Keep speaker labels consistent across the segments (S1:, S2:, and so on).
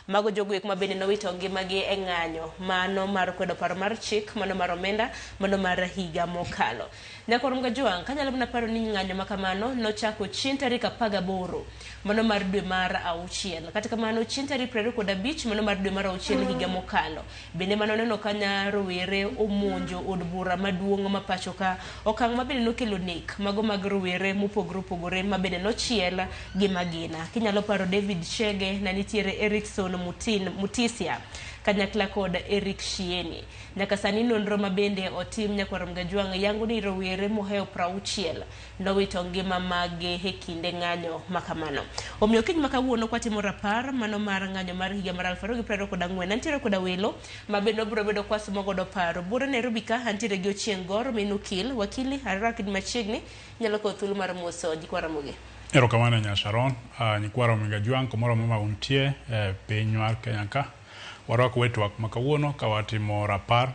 S1: Mago joguek ma bende nowito ngimagi e ng'anyo, mano mar kwedo paro mar chik, mano mar omenda, mano mar higa mokalo. Nyaka orom Gajwang' ka nyalo mana paro ni ng'anyo ma kamano nochako chieng' tarik apar gaboro, mano mar dwe mar auchiel. Kata kamano, chieng' tarik piero ariyo kod abich, mano mar dwe mar auchiel higa mokalo, Bende mane oneno ka nya rowere omonjo od bura maduong' ma pachoka, okang' ma bende nokelo nek mago mag rowere mopogore opogore ma bende nochiel gi magina. Kinyalo paro David Chege, ne nitiere Erickson Mutin, Mutisia kanyakla kod Eric Shieni. Nyaka sani nonro ma bende otim Nyakwar Mgajwang' yango ni rowere mohewo prauchiel nowito ngima maggi e kinde ng'anyo ma kamano. Omiyo kiny ma kawuono kwatimo rapar mano mar ng'anyo mar higa mar aluf ariyo gi piero ariyo kod ang'wen, antiere koda welo ma bende wabiro bedo kwasumo godo paro. Bura Nairobi ka, antiere gi Ochieng' Gor, min Ukil, Wakili, Arera kid machiegni, inyalo kawo thuolo mar moso nyikwa Ramogi. Erokamano nya
S2: Sharon. Uh, nyikwa Ramogi Ajwang' kumoro amora ma untie e eh, piny mar Kenya ka, warwako wetwak ma kawuono ka watimo rapar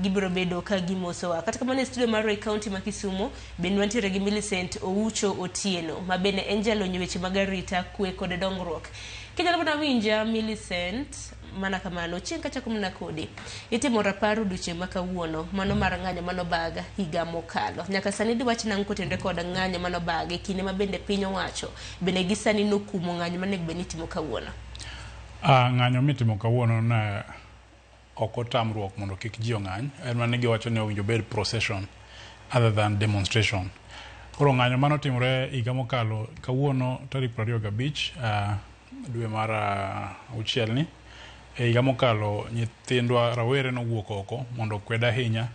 S1: gibiro bedo ka gimosowa. Kata kamano e studio mar Roy County ma Kisumo bende wantiere gi Millicent Oucho Otieno ma bende en jalony e weche mag arita kwe kod dongruok. Kinyalo mana winja Millicent mana kamano chieng' kachako mana kodi itimo rapar odiochieng' ma kawuono mano mar ng'anyo manobaga higa mokalo nyaka sani diwach nang' kotenre kod ng'anyo manobaga e kinde ma bende piny owacho bende gi sani nokumo ng'anyo manego bed ni itimo kawuono Ah,
S2: ng'anyo mitimo kawuono na ok otamruok mondo kik ji ong'any en mana ni giwacho ni owinjo obed procession other than demonstration. Koro ng'anyo mane otimore higa mokalo kawuono tarik piero ariyo gabich ah, dwe mar ah, auchiel ni e higa mokalo nyithindwa rawere nowuok oko mondo okwed ahinya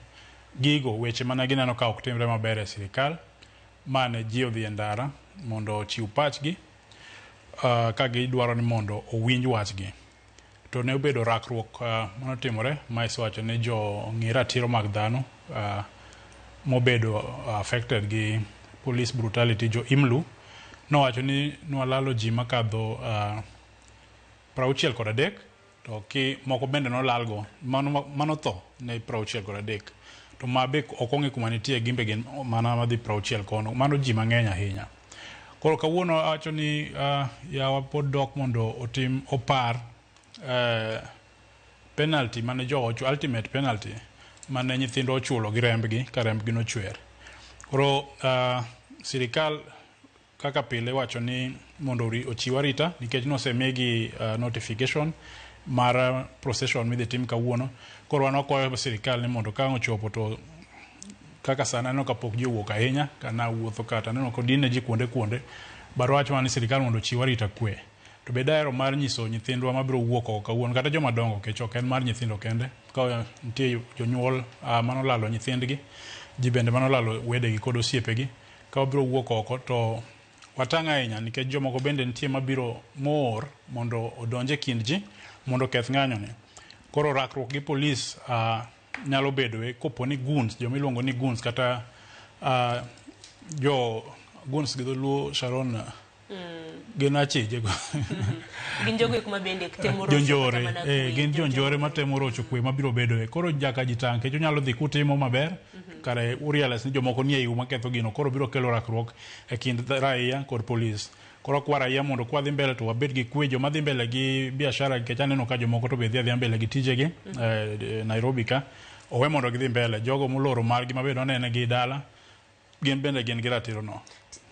S2: gigo weche mane gineno ka ok timre maber e sirikal mane ji odhi e ndara mondo ochiw pachgi ah, ka gidwaro ni mondo owinj wachgi. to ne obedo rakruok mane otimore ma isewacho ni jo ng'i ratiro mag dhano mobedo affected gi police brutality jo IMLU nowacho ni nwalalo ji makadho prauchiel kod adek to ki moko bende nolalgo mano mano tho ne prauchiel kod adek to ma be ok ong'e kuma nitie gimbe gin mana madhi prauchiel kono mano ji mang'eny ahinya Koro kawuono awacho ni uh, yawa pod dok mondo otim opar uh, penalty mane jowa ochulo ultimate penalty mane nyithindo ochulo gi rembgi ka rembgi nochwer. Koro uh, sirikal kaka pile wacho ni mondo ori- ochiw arita nikech nosemigi uh, notification mar uh, procession midhi tim kawuono. Koro wan wakwayo sirikal ni mondo ka ang' ochopo to Kaka sani aneno ka pok ji owuok ahinya, ka nawuotho ka to aneno ka odinne ji kuonde kuonde. But wach wan ni sirkal mondo ochiw arita kwe. To be dahero mar nyiso nyithindwa mabiro wuok oko kawuono kata joma dongo kech ok en mar nyithindo kende. Ka nitie jonyuol mane olalo nyithindgi, ji bende mane olalo wedegi kod osiepegi. Ka wabiro wuok oko to watang' ahinya nikech jomoko bende nitie mabiro moor mondo odonj e kind ji mondo oketh ng'anyoni. Koro rakruok gi polis nyalo bedoe kopo ni guns joma iluongo ni guns kata uh, jo guns gi dholuo sharon mm. gin achije go gin
S1: jogo kuma bende temo jonjore eh gin
S2: jonjore ma temo rocho kwe ma biro bedo e koro jaka jitang kecho nyalo dhi kutimo maber mm -hmm. kare urialas ni jomoko nie yu ma ketho gino koro biro kelo rakruok e kind raia kod police Koro akwaro ahinya mondo kwadhi mbele to wabed gi kwe joma dhi mbele gi biashara nikech aneno ka jomoko to be dhi adhiya mbele gi tijegi mm -hmm. eh, Nairobi ka owe mondo gidhi mbele jogo moloro margi ma be nonene gi dala gin bende gin gi ratiro no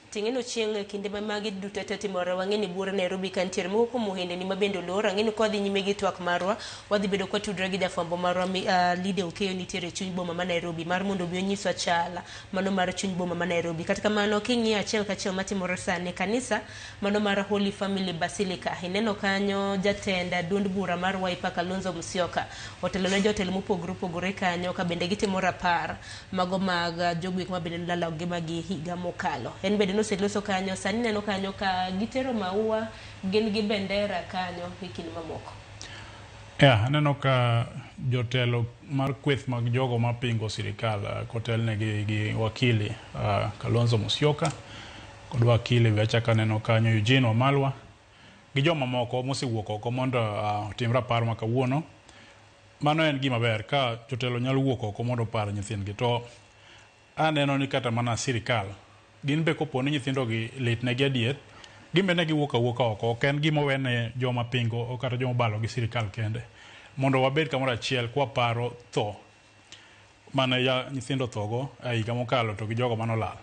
S2: ting'eno chieng'
S1: e kinde ma magi duto te timore wang'e ni bura Nairobi ka nitiere moko kuom ohendeni ma bende olor ang'e ni kwa dhi nyime gi twak marwa wadhi bedo kwa tudre gi jafwambo marwa uh, Lide Okeyo nitiere e chuny boma ma Nairobi mar mondo obi onyiswa chala mano mar chuny boma ma Nairobi. Kata kamano, king'iyo achiel kachiel matimore sani e kanisa mano mar Holy Family Basilica, ineno kanyo jatend duond bura mar Wiper Kalonzo Musyoka otelo ne jotelo mopogore opogore kanyo ka bende gitimo rapar mago mag jogo eko ma bende nolalo ngimagi higa mokalo. En bende noseloso kanyo, sani ineno kanyo ka gitero maua, gin gi bendera kanyo e kind mamoko. Yeah,
S2: aneno ka jotelo mar kweth mag jogo mapingo sirikal uh, ah, kotelne gi, gi wakili uh, Kalonzo Musyoka kod wakili be achako aneno kanyo Eugene Wamalwa gi jomamoko mosewuok oko mondo uh, otim rapar ma kawuono. Mano en gima ber ka jotelo nyalo wuok oko mondo opar nyithindgi to Aneno ni kata mana sirikal gin be kopo ni nyithindogi litnegi adier, gin be ne giwuok awuoka oko. Ok en gima owe ne joma pingo kata joma obalo gi sirikal kende. Mondo wabed kamoro achiel kwa paro tho mane nyithindo othogo e higa mokalo to gi jogo mane olal.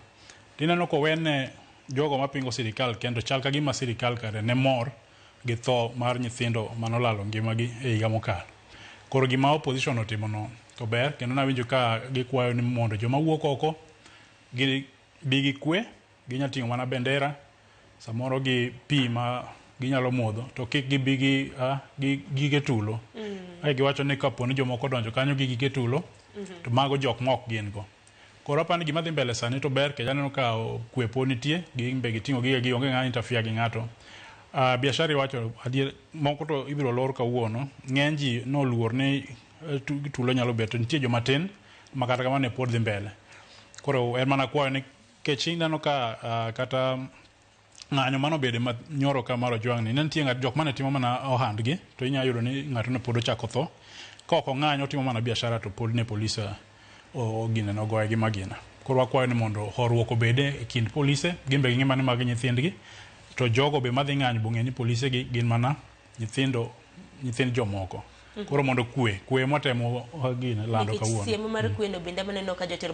S2: Tineno kowe ne jogo mapingo sirikal kende to chal kagima sirikal kare ne mor. gi tho mar nyithindo mane olalo ngimagi e higa mokalo. Koro gima opposition otimono to ber kendo nawinjo ka gikwayo ni mondo joma wuok oko gi bi gi kwe, ginya ting'o mana bendera samoro gi pi ma ginyalo modho to kik gibi gi, uh, gi gige tulo. Mm. Giwacho ni kapo ni jomoko odonjo kanyo gi gige tulo mm -hmm. to mago jok ma ok gin go. Koro apani gima dhi mbele sani to ber kech aneno ka kwe po nitie gimbe giting'o gige gi onge ng'ama interfere gi ng'ato. Uh, biashara iwacho adier moko to ibiro lor kawuono. Ng'eny ji noluor ni eh, tulo nyalo bet to nitie joma tin ma kata kamano ne pod dhi mbele. Koro en mana kwayo ni kech ineno ka uh, kata ng'anyo mane obede ma nyoro ka mar Ojwang' ni ne nitie ng'at jok mane timo mana ohandgi to inyalo yudo ni ng'ato ne pod ochako tho ka ok ong'anyo otimo mana biashara to pod ne polise ogine ne ogoye gi magina. Koro wakwayo ni mondo horuok obede e kind polise gin be ging'e ni magi nyithindgi to jogo be madhi ng'anyo bong'e ni polise gi gin mana nyithindo nyithind jomoko. Koro mondo
S1: kwe,
S2: kwe
S1: mwatemo
S2: gine
S1: lando
S2: kawuono.
S1: Nikech siemo
S2: mar
S1: kweno
S2: bende amaneno
S1: ka
S2: jotelo